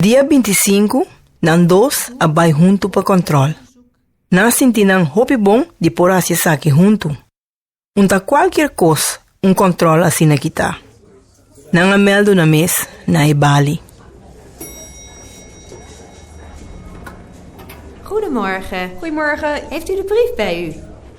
Dia binti sinku nan dos a bai huntu pa kòntròl. Nan a sinti nan hopi bon di por hasi esaki huntu. Un ta kualkier kos un kòntròl asina kita. Nan a mèldu nan mes na e bali. Goedemorgen. Goedemorgen. Heeft u de brief bij u?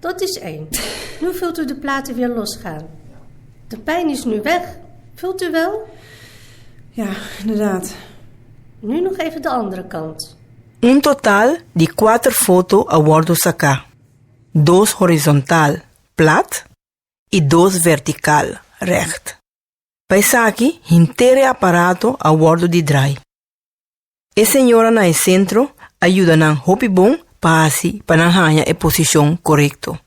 Dat is één. Nu vult u de platen weer losgaan. De pijn is nu weg, vult u wel? Ja, inderdaad. Nu nog even de andere kant. Un total di kuater foto a wòrdu saká, dos horizontal, plat, i dos vertikal, règt. Pa esaki hinter e aparato a wòrdu di drai. E señora na e sentro a yuda nan hopi bon pa hasi pa nan haña e posishon korekto.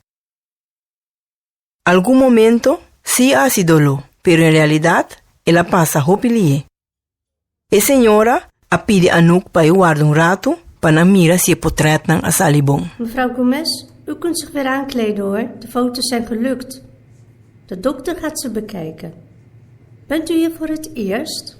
Algun momento sí a hasi doló, pero en realidat el a pasa hopi lihe. E señora a pidi Anouk pa e warda un ratu pa nan mira si e potrètnan a sali bon. Mevrouw Gomez, u kunt zich weer aankleden hoor, de foto's zijn gelukt. De dokter gaat ze bekijken. Bent u hier voor het eerst?